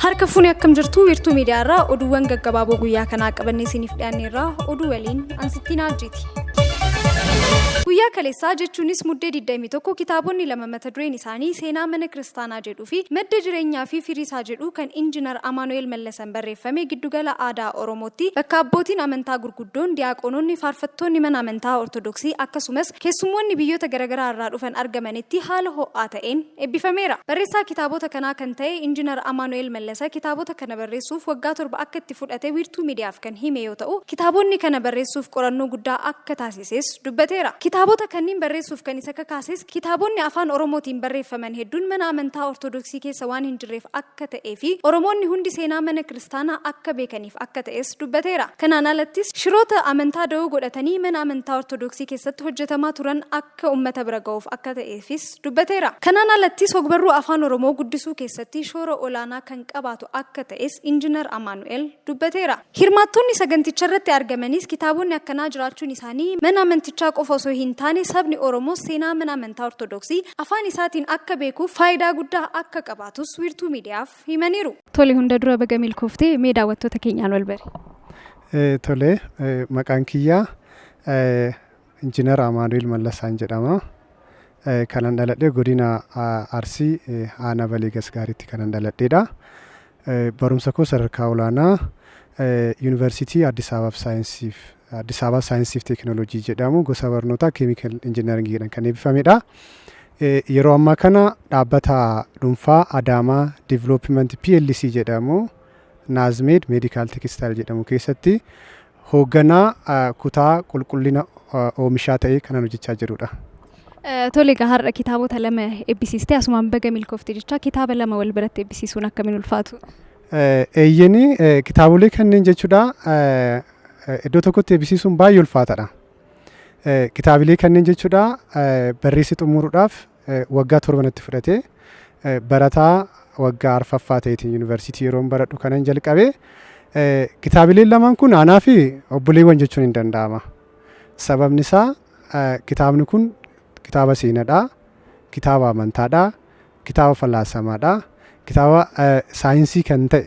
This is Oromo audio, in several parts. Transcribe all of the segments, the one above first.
Harka fuuni akkam jirtu wiirtuu miidiyaa irraa oduuwwan gaggabaaboo guyyaa kanaa qabannee isiniif dhiyaanne irraa oduu waliin ansittii naajjiiti. Guyyaa kaleessaa jechuunis muddee 21 kitaabonni lama mata dureen isaanii seenaa mana kiristaanaa jedhuu fi madda jireenyaa fi firii isaa jedhu kan injinar Amaanu'eel Mallasa kan barreeffame Giddugala Aadaa Oromootti, bakka abbootiin amantaa gurguddoon, diyaaqoononni, faarfattoonni mana amantaa Ortodoksii akkasumas keessummoonni biyyoota garagaraa irraa dhufan argamanitti haala ho'aa ta'een eebbifameera. Barreessaa kitaabota kanaa kan ta'e Injinar Amaanu'eel Mallasa kitaabota kana barreessuuf waggaa torba akka itti fudhate Wiirtuu Miidiyaaf kan hime yoo ta'u, kitaaboonni kana barreessuuf qorannoo guddaa akka taasises dubbateera. Kitaabota kanniin barreessuuf kan isa kakaases, kitaaboonni Afaan Oromootiin barreeffaman hedduun mana amantaa Ortodoksii keessa waan hin jirreef akka. akka ta'ee fi Oromoonni hundi seenaa mana kiristaanaa akka beekaniif akka ta'es dubbateera. Kanaan alattis shiroota amantaa da'oo godhatanii mana amantaa Ortodoksii keessatti hojjetamaa turan akka uummata bira ga'uuf akka ta'eefis dubbateera. Kanaan alattis hogbarruu Afaan Oromoo guddisuu keessatti shoora olaanaa kan qabaatu akka ta'es Injinar Amaanu'el dubbateera. Hirmaattonni saganticharratti argamanis kitaabonni akkanaa jiraachuun isaanii mana amantichaa qofa osoo hintaane sabni Oromoos seenaa mana amantaa Ortodoksii afaan isaatiin akka beekuuf faayidaa guddaa akka qabaatus Wiirtuu Miidiyaaf himaniiru. Tole hunda dura baga milkoofte mee daawwattoota keenyaan walbari. Tole maqaan kiyya Injiinar Amaanu'eel Mallasaan jedhama. Kanan dhaladhe godina Arsii aanaa Balee Gasgaariitti kanan dhaladheedha. Barumsa koo sadarkaa olaanaa Yuunivarsiitii Addis Ababaaf Saayinsiif Addis Ababaa Saayinsiif Teekinooloojii jedhamu gosa barnootaa Keemikal Injinaringiidhaan kan eebbifamedha. Yeroo ammaa kana dhaabbata dhuunfaa Adaamaa Development PLC jedhamu Naazmeed Meedikaal Tekistaayil jedhamu keessatti Hoogganaa kutaa qulqullina oomishaa ta'ee kanan hojjechaa jirudha. Tole egaa har'a kitaabota lama ebbisiiste asumaan baga milkoofte jechaa kitaaba lama wal biratti ebbisiisuun akkamiin ulfaatu? Eeyyeni kitaabolee kanneen jechuudha iddoo tokkotti ebbisiisuun baay'ee ulfaatadha. Kitaabilee kanneen jechuudha barreessi xumuruudhaaf Waggaa torba natti fudhate. Barataa waggaa arfaffaa ta'eetiin yuunivarsiitii yeroon baradhu kanan jalqabe. Kitaabileen lamaan kun anaa fi obboleewwan jechuun hin danda'ama. Sababni isaa kitaabni kun kitaaba seenadha, kitaaba amantaadha, kitaaba falaasamaadha, kitaaba saayinsii kan ta'e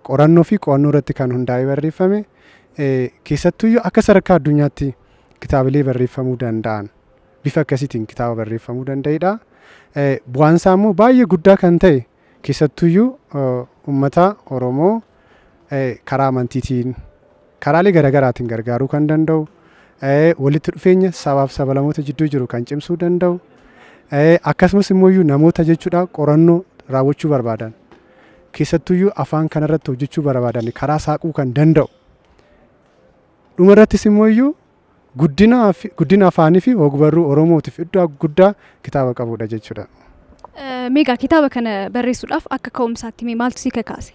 qorannoo fi qo'annoo irratti kan hundaa'ee barreeffame keessattuyyuu akka sadarkaa addunyaatti kitaabilee barreeffamuu danda'an bifa akkasiitiin kitaaba barreeffamuu danda'edha. Bu'aan isaa immoo baay'ee guddaa kan ta'e keessattuyyuu uummata Oromoo karaa amantiitiin karaalee garaagaraatiin gargaaruu kan danda'u walitti dhufeenya sabaaf sabalamoota jidduu jiru kan cimsuu danda'u akkasumas immoo namoota jechuudha qorannoo raawwachuu barbaadan keessattuyyuu afaan kanarratti hojjechuu barbaadan karaa saaquu kan danda'u dhumarrattis immoo guddinaaf- guddina afaanii fi ogbarruu Oromootiif iddoo guddaa kitaaba qabudha jechuudha. Eh, Meegaa kitaaba kana barreessuudhaaf akka ka'umsaatti mee maaltu si kakaase?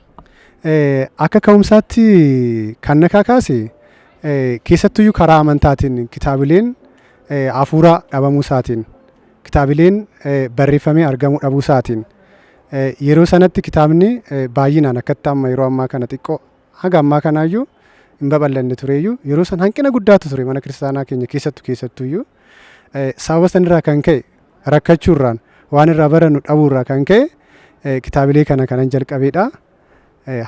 Eh, Akka ka'umsaatti kan na kakaase eh, keessattuyyuu karaa amantaatiin kitaabileen eh, hafuuraa dhabamuu isaatiin kitaabileen eh, barreeffamee argamuu dhabuu isaatiin eh, yeroo sanatti kitaabni eh, baay'inaan akkatti amma yeroo ammaa kana xiqqoo Haga ammaa kanaayyuu hin babal'anne tureeyyuu yeroo san hanqina guddaatu ture mana kiristaanaa keenya keessattu keessattuuyyuu sababa sanirraa kan ka'e rakkachuurraan waan irraa barannu dhabuurraa kan ka'e kitaabilee kana kanan jalqabeedha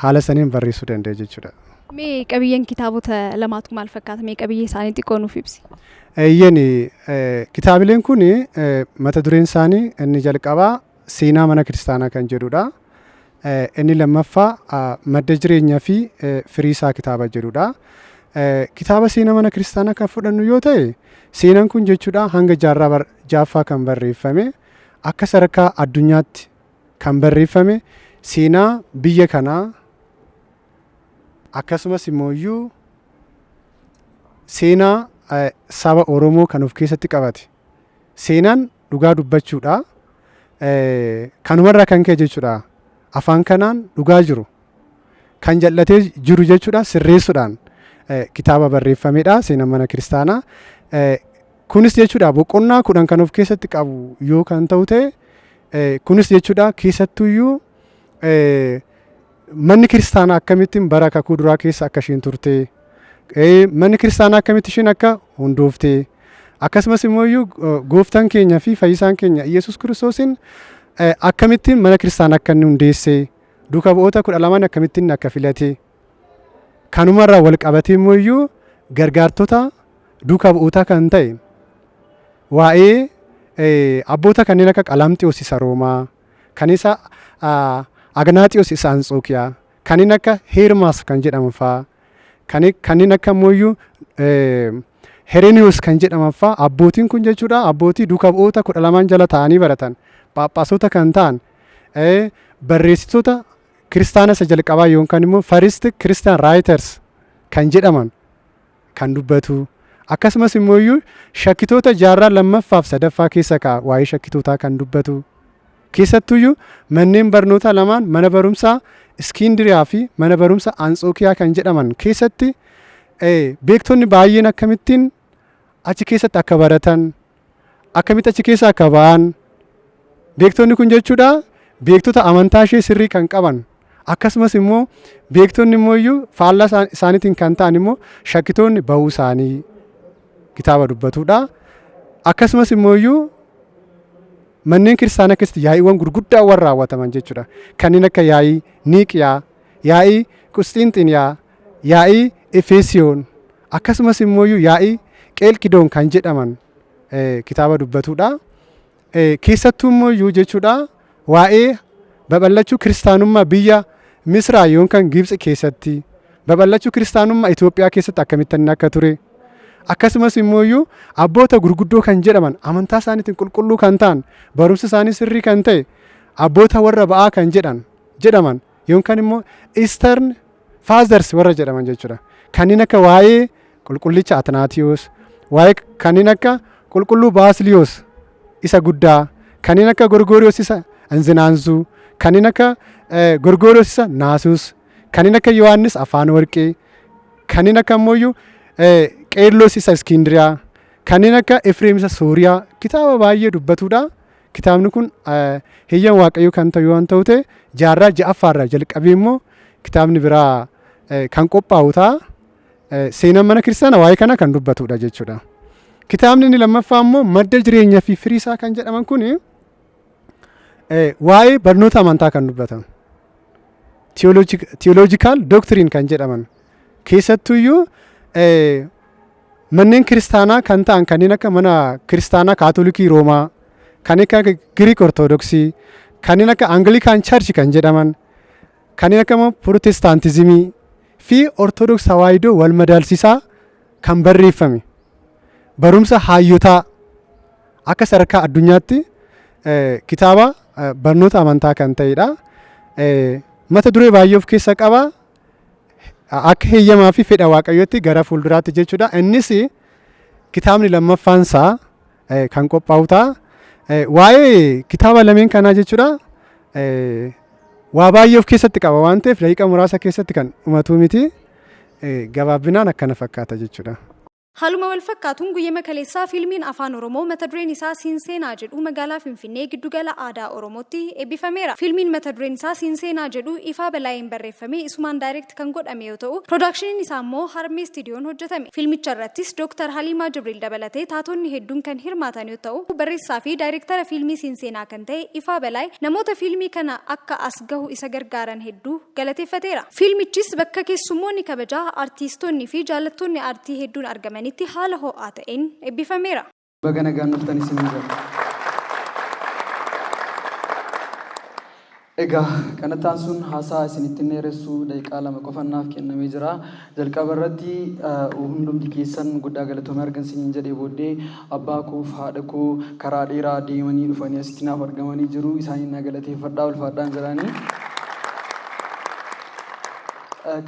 haala saniin barreessuu danda'e jechuudha. Mee qabiyyeen kitaabota lamaatu maal fakkaata? Mee qabiyyee isaanii xiqqoo nuuf ibsi. Eeyyeen kitaabileen kun mata dureen isaanii inni jalqabaa seenaa mana kiristaanaa kan jedhudha. Inni lammaffaa madda jireenya fi firii isaa kitaaba jedhudha. Kitaaba seenaa mana kiristaanaa kan fudhannu yoo ta'e seenaan kun jechuudha hanga jaarraa bar- jaaffaa kan barreeffame akka sadarkaa addunyaatti kan barreeffame seenaa biyya kanaa akkasumas immoo iyyuu seenaa eh, saba Oromoo kan of keessatti qabate. Seenaan dhugaa dubbachuudha. Kanumarraa kan ka'e jechuudha afaan kanaan dhugaa jiru kan jal'atee jiru jechuudha sirreessuudhaan kitaaba barreeffamedha seenaa mana kiristaanaa. Kunis jechuudha boqonnaa kudhan kan of keessatti qabu yoo kan ta'u ta'e kunis jechuudha keessattuyyuu Manni kiristaanaa akkamittin bara kakuu duraa keessa akka isheen turte, manni kiristaanaa akkamitti isheen akka hundoofte, akkasumas immoo iyyuu gooftaan keenya fi fayyisaan keenya Iyyasuus Kiristoosiin akkamittiin mana kiristaanaa akka inni hundeesse, duuka bu'oota kudha lamaan akkamittiin inni akka filate, kanumarraa wal qabatee immoo iyyuu gargaartota duuka bu'ootaa kan ta'e waa'ee abboota kanneen akka Qalamxiyoos isa Roomaa, kan isa Agnaatiyos isa Antsookiyaa, kanneen akka Heermaas kan jedhaman fa'aa, kanneen akka immoo iyyuu Hereniyoos kan jedhaman fa'aa abbootiin kun jechuudha abbootii duuka bu'oota kudha lamaan jala taa'anii baratan phaaphaasota kan ta'an barreessitoota kiristaana isa jalqabaa yookaan immoo first Christian writers kan jedhaman kan dubbatu akkasumas immoo iyyuu shakkitoota jaarraa lammaffaaf sadaffaa keessa ka'a waa'ee shakkitootaa kan dubbatu keessattuu iyyuu manneen barnootaa lamaan mana barumsaa Iskiindiriyaa fi mana barumsa Antsookiyaa kan jedhaman keessatti beektonni baay'een akkamittiin achi keessatti akka baratan akkamitti achi keessa akka ba'an beektonni kun jechuudha beektota amantaa ishee sirrii kan qaban akkasumas immoo beektonni immoo iyyuu faallaa isaan- isaaniitiin kan ta'an immoo shakkitoonni ba'uu isaanii kitaaba dubbatuudha. Akkasumas immoo iyyuu manneen kiristaanaa keessatti yaa'iiwwan gurguddaa warra raawwataman jechuudha. Kanneen akka yaa'ii Niiqiyaa, yaa'ii Qusxiinxiniyaa, yaa'ii Efeesiyoon akkasumas immoo iyyuu yaa'ii Qeelqidoon kan jedhaman eh, kitaaba dubbatudha. Eh, keessattuu immoo iyyuu jechuudha waa'ee babal'achuu kiristaanummaa biyya Misraa yookaan Gibxi keessatti babal'achuu kiristaanummaa Itoophiyaa keessatti akkamitti inni akka ture akkasumas immoo iyyuu abboota gurguddoo kan jedhaman amantaa isaaniitiin qulqulluu kan ta'an barumsi isaanii sirrii kan ta'e abboota warra ba'aa kan jedhan jedhaman yookaan immoo Eastern Fathers warra jedhaman jechuudha. Kanneen akka waa'ee qulqullicha Atnaatiyoos, waa'ee kanneen akka qulqulluu Baasiliyoos isa guddaa, kanneen akka Gorgooriyoos isa Anzinaanzuu, kanneen akka eh, Gorgooriyoos isa Naasuus, kanneen akka Yohaannis Afaan Warqee, kanneen akka ammoo iyyuu eh, Qeerloos isa Iskindiriyaa, kanneen akka Efreem isa Sooriyaa kitaaba baay'ee dubbatuudha. Kitaabni kun heyyama Waaqayyoo kan ta'u waan ta'u ta'e jaarraa ja'affaarraa jalqabee immoo kitaabni biraa kan qophaa'u ta'a. Seenaan mana kiristaanaa waa'ee kana kan dubbatudha jechuudha. Kitaabni inni lammaffaa immoo madda jireenyaa fi firii isaa kan jedhaman kun waa'ee barnoota amantaa kan dubbatan. Tiyooloojikaal doktiriin kan jedhaman keessattuyyuu Manneen kiristaanaa kan ta'an kanneen akka mana kiristaanaa kaatolikii Roomaa, kan akka Giriik Ortodoksii, kanneen akka Angilikaan Charchi kan jedhaman, kanneen akka immoo Pirotestaantizimii fi Ortodoks Tawaahidoo wal madaalsisaa kan barreeffame. Barumsa haayyotaa akka sadarkaa addunyaatti eh, kitaaba eh, barnoota amantaa kan ta'edha. Eh, Mata duree baay'ee of keessa qaba. akka heeyyamaa fi fedha waaqayyootti gara fuulduraatti jechuudha. Innis kitaabni lammaffaan isaa eh, kan qophaa'u ta'a. Eh, Waa'ee kitaaba lameen kanaa jechuudha. eh, Waa baay'ee of keessatti qaba waan ta'eef daqiiqa muraasa keessatti kan dhumatuu miti. Eh, Gabaabinaan akkana fakkaata jechuudha. Haaluma walfakkaatuun guyyama kaleessaa fiilmiin Afaan Oromoo mata dureen isaa Siinseenaa jedhu magaalaa Finfinnee giddu gala aadaa Oromootti eebbifameera. Fiilmiin mata dureen isaa Siinseenaa jedhu Ifaa Balaayeen barreeffamee isumaan direct kan godhame yoo ta'u, production'n isaa immoo Harmee Studiyoon hojjetame. Fiilmicha irrattis Dr. Haliimaa Jibriil dabalatee taatonni hedduun kan hirmaatan yoo ta'u, barreessaa fi daayirektara fiilmii Siinseenaa kan ta'e Ifaa Balaay namoota fiilmii kana akka as gahu isa gargaaran hedduu. galateeffateera. Fiilmichis bakka keessummoonni kabajaa, artiistoonni fi jaallattoonni aartii hedduun argamanitti haala ho'aa ta'een eebbifameera. Baga nagaan dhuftan isiniin jenna. Egaa kanatti aansuun haasaa isinitti hin dheeressu, daqiiqaa lama qofan naaf kennamee jira. Jalqaba irratti hundumti keessan guddaa galatoomaa ergan isiniin jedhee booddee abbaa koof haadha koo karaa dheeraa deemanii dhufanii asitti naaf argamanii jiru. Isaaniin na galateeffadhaa ulfaadhaan jedhaanii.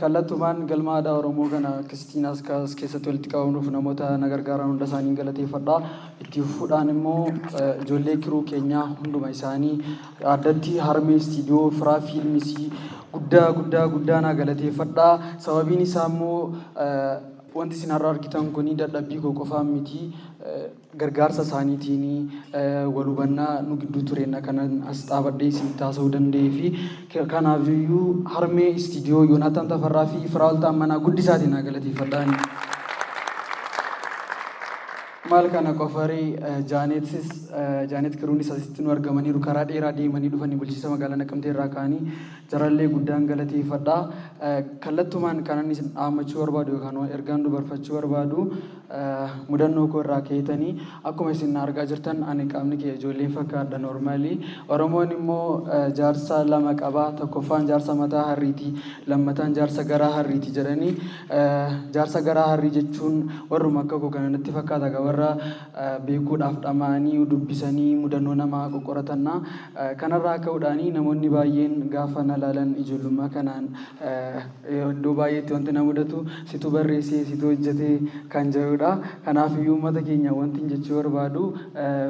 Kallattumaan galma aadaa Oromoo kana akkasittiin as as keessatti walitti qabamuuf namoota na gargaaran hunda isaaniin galateeffadhaa. Itti fufuudhaan immoo ijoollee kiruu keenyaa hunduma isaanii Addatti Harmee Istiidiyoo Firaa Fiilmisi guddaa guddaa guddaa naa galateeffadhaa. Sababiin isaa immoo wanti isin har'a argitan kun dadhabbii koo qofaan miti. Gargaarsa isaaniitiin wal hubannaa nu gidduu tureenna kanan as dhaabadhee isinitti haasa'uu danda'ee fi kanaaf iyyuu Harmee Istiidiyoo Yoonaatan Tafarraa fi Firaa'ol Taammanaa guddisaatiin naa galateeffadhaani. Maal kana qofaree Jaaneetis Jaaneet Kiruunis asitti nu argamaniiru karaa dheeraa deemanii dhufanii bulchiisa magaalaa Naqamtee irraa ka'anii jarallee guddaan galateeffadha. Kallattumaan kanan isin dhaammachuu barbaadu yookaan ergaan dubarfachuu barbaadu mudannoo koo irraa keetanii akkuma isin na argaa jirtan ani qaamni kiyya ijoolleen fakkaadha noormaalii. Oromoon immoo jaarsa lama qaba tokkoffaan jaarsa mataa harriiti lammataan jaarsa garaa harriiti jedhanii Jaarsa garaa harrii jechuun warruma akka koo kana natti fakkaata gaa warra beekuudhaaf dhama'anii dubbisanii mudannoo namaa qoqqoratanna. Kanarraa ka'uudhaan namoonni baay'een gaafa na laalan ijoollummaa kanaan iddoo baay'eetti wanti na mudatu situ barreesse situ hojjete kan jedhudha. Kanaafiyyuu uummata keenya wantin jechuu barbaadu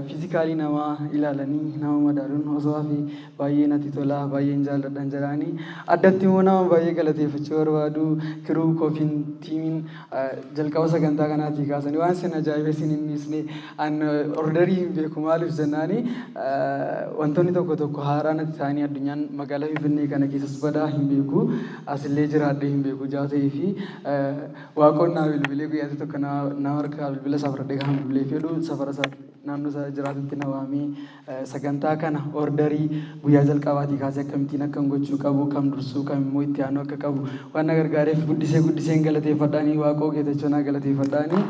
physically nama ilaalanii nama madaaluun osoo hafee baay'ee natti tola baay'een jaalladhan jedhaani addatti immoo nama baay'ee galateeffachuu barbaadu kiruu koofiin tiimiin jalqaba sagantaa kanaatii kaasanii waan sin ajaa'ibe sin hin dhiisne an ordarii hin beeku maaliif jennaani wantoonni tokko tokko haaraa natti ta'anii addunyaan magaalaa Finfinnee kana keessas badaa hin beeku asillee jiraadhee hin beeku jaa ta'ee fi waaqoon naa bilbilee guyyaatti tokko naa harkaa bilbila isaa fudhadhee kan bilbilee fedhu safara isaa naannoo isaa jiraatutti na waamee Sagantaa kana orderii guyyaa jalqabaatii kaasee akkamittiin akkan gochuu qabu, kam dursuu, kam immoo itti aanuu akka qabu waan na gargaareef guddisee guddiseen galateeffadha ani Waaqoo Geetachoo naa galateeffadha ani.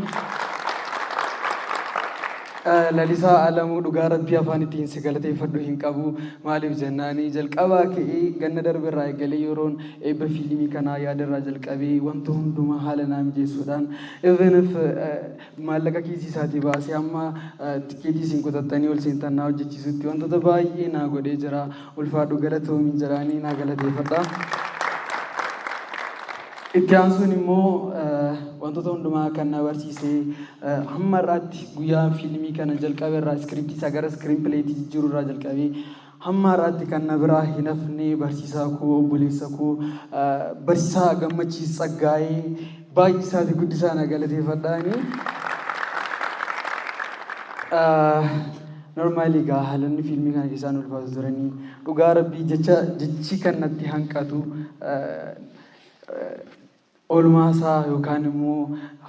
Eh, Lalisaa Alamuu dhugaa rabbii afaan ittiin si galateeffadhu hin qabu maaliif jennaani jalqabaa ka'ee ganna darbe irraa eegalee yeroon eebba fiilmii kanaa yaada irraa jalqabee wanta hundumaa haala naa mijeessuudhaan even if eh, maallaqa kiisii isaatii baasee amma tikkeetii isin kutattanii ol seentan naa hojjechiisutti wantoota baay'ee naa godhee jira ulfaadhu galatoomiin jedhaanii naa galateeffadha. Itti aansuun immoo wantoota hundumaa kan na barsiise hamma irraatti guyyaa fiilmii kana jalqabe irraa iskiriiptii isaa gara iskiriin pileetii jijjiiruu irraa jalqabee Hamma har'aatti kan na biraa hin hafne barsiisaa koo, obboleessa koo, barsiisaa Gammachiis Tsaggaayee baay'isaa fi guddisaa na galateeffadha ani. Normaalii egaa haalonni fiilmii kana keessaa nu ulfaatu turanii dhugaa rabbii jecha jechi kan natti hanqatu Oolmaa isaa yookaan immoo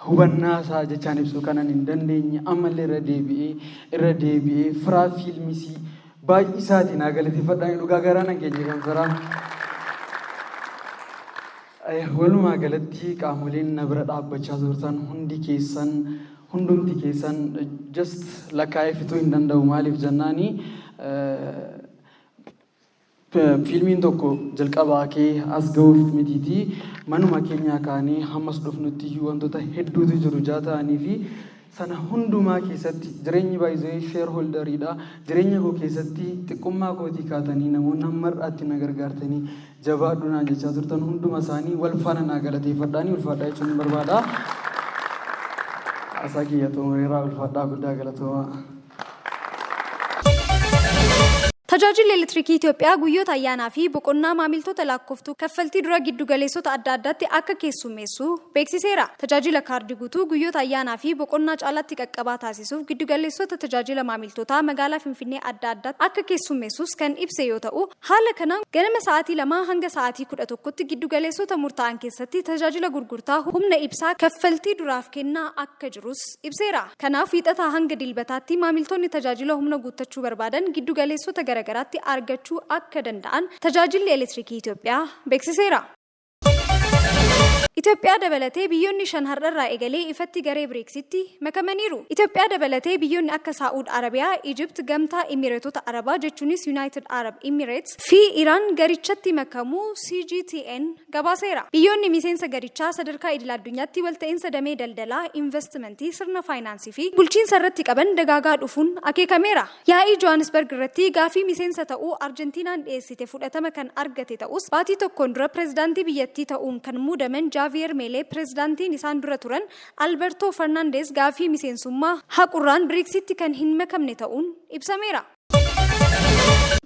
hubannaa isaa jechaan ibsuu kanan hin dandeenye ammallee irra deebi'ee irra deebi'ee firaa fiilmisii baay'isaatiin haa galateeffadhaan dhugaa garaa nan keenya kan firaa. Walumaa galatti qaamoleen na bira dhaabbachaa turtan hundi keessan hundumti keessan just lakkaa'ee fixuu hin danda'u maaliif jennaani Fiilmiin tokko jalqabaa kee as ga'uuf mitiitii manuma keenyaa kaanee hammas dhufnutti iyyuu wantoota hedduutu jiru jaa ta'anii fi sana hundumaa keessatti jireenyi baay'ee sheer holdariidha. Jireenya koo keessatti xiqqummaa kootii kaatanii namoonni amma har'aatti na gargaartanii jabaadhu naan jechaa turtan hunduma isaanii wal faana naa galateeffadhaanii ulfaadhaa jechuun barbaada. Haasaa kiyya xumureeraa ulfaadhaa guddaa galatoomaa. Tajaajilli Elektirikii Itiyoophiyaa guyyoota ayyaanaa fi boqonnaa maamiltoota lakkooftuu kaffaltii dura giddu galeessota adda addaatti akka keessummeessu beeksiseera. Tajaajila kaardii guutuu guyyoota ayyaanaa fi boqonnaa caalaatti qaqqabaa taasisuuf giddu galeessota tajaajila maamiltootaa magaalaa Finfinnee adda addaatti akka keessummeessus kan ibse yoo ta'u, Haala kanaan ganama sa'aatii 2:00 hanga sa'aatii 11:00tti giddu galeessota murtaa'an keessatti tajaajila gurgurtaa humna ibsaa kaffaltii duraaf kennaa akka jirus ibseera. Kanaaf Wiixataa hanga Dilbataatti maamiltoonni tajaajila humna guuttachuu barbaadan giddu galeessota garagaraatti argachuu akka danda'an Tajaajilli Elektirikii Itoophiyaa beeksiseera. Itoophiyaa dabalatee biyyoonni shan har'arraa eegalee ifatti garee Biriiksitti makamaniiru. Itoophiyaa dabalatee biyyoonni akka Saa'ud Arabiyaa, Ijipt, Gamtaa Imireetota Arabaa jechuunis Yunaayitid Arab Imireets fi Iraan garichatti makamuu CGTN gabaaseera. Biyyoonni miseensa garichaa sadarkaa idil addunyaatti walta'iinsa damee daldalaa, invastimantii, sirna faayinaansii fi bulchiinsa irratti qaban dagaagaa dhufuun akeekameera. Yaa'ii Johaanisbarg irratti gaaffii miseensa ta'uu Arjentiinaan dhiyeessite fudhatama kan argate ta'us, baatii tokkoon dura pirezidaantii biyyattii ta'uun kan muudaman Jaaviyeer Meelee pirezidaantiin isaan dura turan Albertoo Fernaandeez gaaffii miseensummaa haqurraan Briiksitti kan hin makamne ta'uun ibsameera.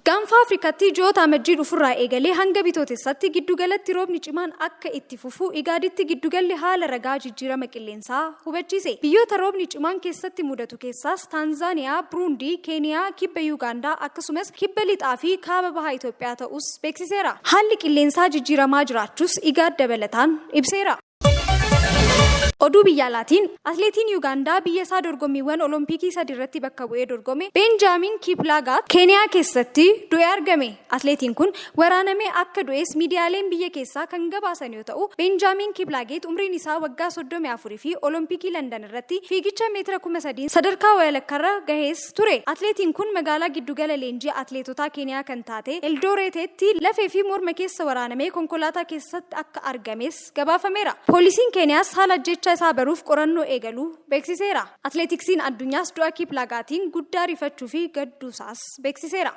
Gaanfa Afrikaatti ji'oota Amajjii dhufurraa eegalee hanga Bitootessatti giddugalatti roobni cimaan akka itti fufu Igaaditti giddugalli haala ragaa jijjiirama qilleensaa. isaa hubachiise. Biyyoota roobni cimaan keessatti mudatu keessaas Taanzaaniyaa, Buruundii, Keeniyaa, Kibba Yuugaandaa akkasumas Kibba Lixaa fi Kaaba Baha Itoophiyaa ta'uus beeksiseera. Haalli qilleensaa jijjiiramaa jiraachuus Igaad dabalataan ibseera. Oduu biyya alaatiin, Atleetiin Yuugaandaa biyya isaa dorgommiiwwan Olompikii sadi irratti bakka bu'ee dorgome Beenjaamiin Kiiplaagaat Keeniyaa keessatti du'ee argame. Atleetiin kun waraanamee akka du'es miidiyaaleen biyya keessaa kan gabaasan yoo ta'u, Beenjaamiin Kiiplaageet umriin isaa waggaa 34 fi Olompikii Landan irratti fiigicha meetira 3000n sadarkaa wayalakkarra gahees ture. Atleetiin kun magaalaa giddugala leenjii atleetotaa Keeniyaa kan taate Eldooreeteetti lafee fi morma keessa waraanamee konkolaataa keessatti akka argames gabaafameera. Poolisiin Keeniyaas haala ajjeechaa isaa baruuf qorannoo eegaluu beeksiseera. Atleetiksiin addunyaas du'a Kiiplaagaatiin guddaa rifachuufi gadduusaas beeksiseera.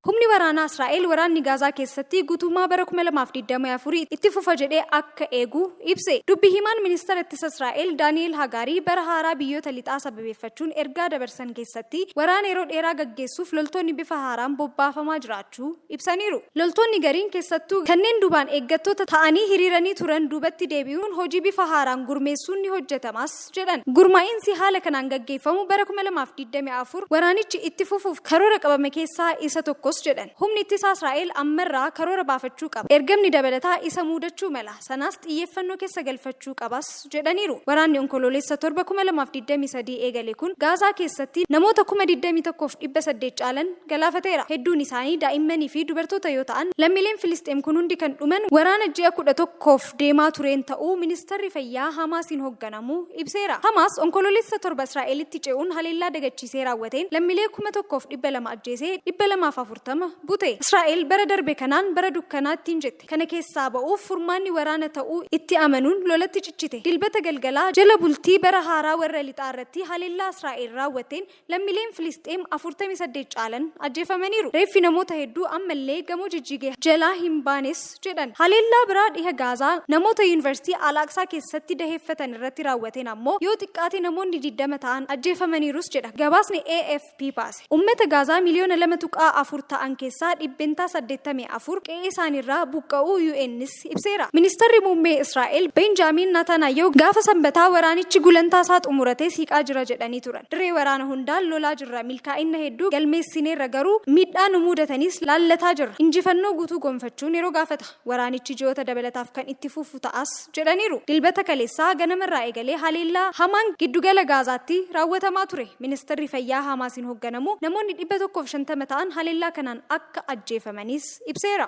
Humni waraanaa Israa'el waraanni Gaazaa keessatti guutummaa bara 2024 itti fufa jedhee akka eegu ibse. Dubbi himaan ministeera ittisa Israa'el Daani'el Hagaarii bara haaraa biyyoota lixaa sababeeffachuun ergaa dabarsan keessatti waraana yeroo dheeraa gaggeessuuf loltoonni bifa haaraan bobbaafamaa jiraachuu ibsaniiru. Loltoonni gariin keessattuu kanneen duubaan eeggattoota ta'anii hiriiranii turan duubatti deebi'uun hojii bifa haaraan gurmeessuun ni hojjetamas jedhan. Gurmaa'insi haala kanaan gaggeeffamu bara 2024 waraanichi itti fufuuf karoora qabame keessaa isa tokkos jedhan. Humni ittisaa Israa'el ammarraa karoora baafachuu qaba. Ergamni dabalataa isa muudachuu mala. Sanaas xiyyeeffannoo keessa galfachuu qabas jedhaniiru. Waraanni Onkoloolessa 7, 2023 eegale kun Gaazaa keessatti namoota 21,800 caalan galaafateera. Hedduun isaanii daa'immanii fi dubartoota yoo ta'an, lammiileen Filisxeem kun hundi kan dhuman waraana ji'a 11f deemaa tureen ta'uu Ministarri Fayyaa Hamaasiin hogganamu ibseera. Hamaas Onkoloolessa 7 Israa'elitti ce'uun haleellaa dagachiisee raawwateen lammilee 1,200 ajjeesee 240 bute. Israa'el bara darbe kanaan bara dukkanaa ittiin jette. Kana keessaa ba'uuf furmaanni waraana ta'uu itti amanuun lolatti cichite. Dilbata galgalaa jala bultii bara haaraa warra lixaa irratti haleellaa Israa'el raawwatteen Lammileen Filisxeem 48 caalan ajjeefamaniiru. Reeffi namoota hedduu ammallee gamoo jijjige jalaa hin baanes jedhan. Haleellaa biraa dhiha Gaazaa namoota Yuunivarsiitii Al-Aqsaa keessatti daheeffatan irratti raawwateen ammoo yoo xiqqaate namoonni 20 ta'an ajjeefamaniirus jedha gabaasni AFP baase. Ummata Gaazaa miliyoona 2.4 ta'an keessaa dhibbentaa 84 qe'eesaaniirraa buqqa'uu UNs ibseera. Ministarri Muummee Israa'el Beenjaamiin Nataanaayahu gaafa Sambataa waraanichi gulantaa isaa xumuratee siiqaa jira jedhanii turan. Dirree waraana hundaan lolaa jirra, milkaa'inna hedduu galmeessineerra garuu miidhaa nu muudataniis laallataa jirra. Injifannoo guutuu gonfachuun yeroo gaafata. Waraanichi ji'oota dabalataaf kan itti fufu ta'as jedhaniiru. Dilbata kaleessaa ganamarraa eegalee haleellaa hamaan giddugala Gaazaatti raawwatamaa ture. Ministarri Fayyaa Haamaasiin hogganamu namoonni 150 ta'an haleellaa kanaan akka ajjeefamaniis ibseera.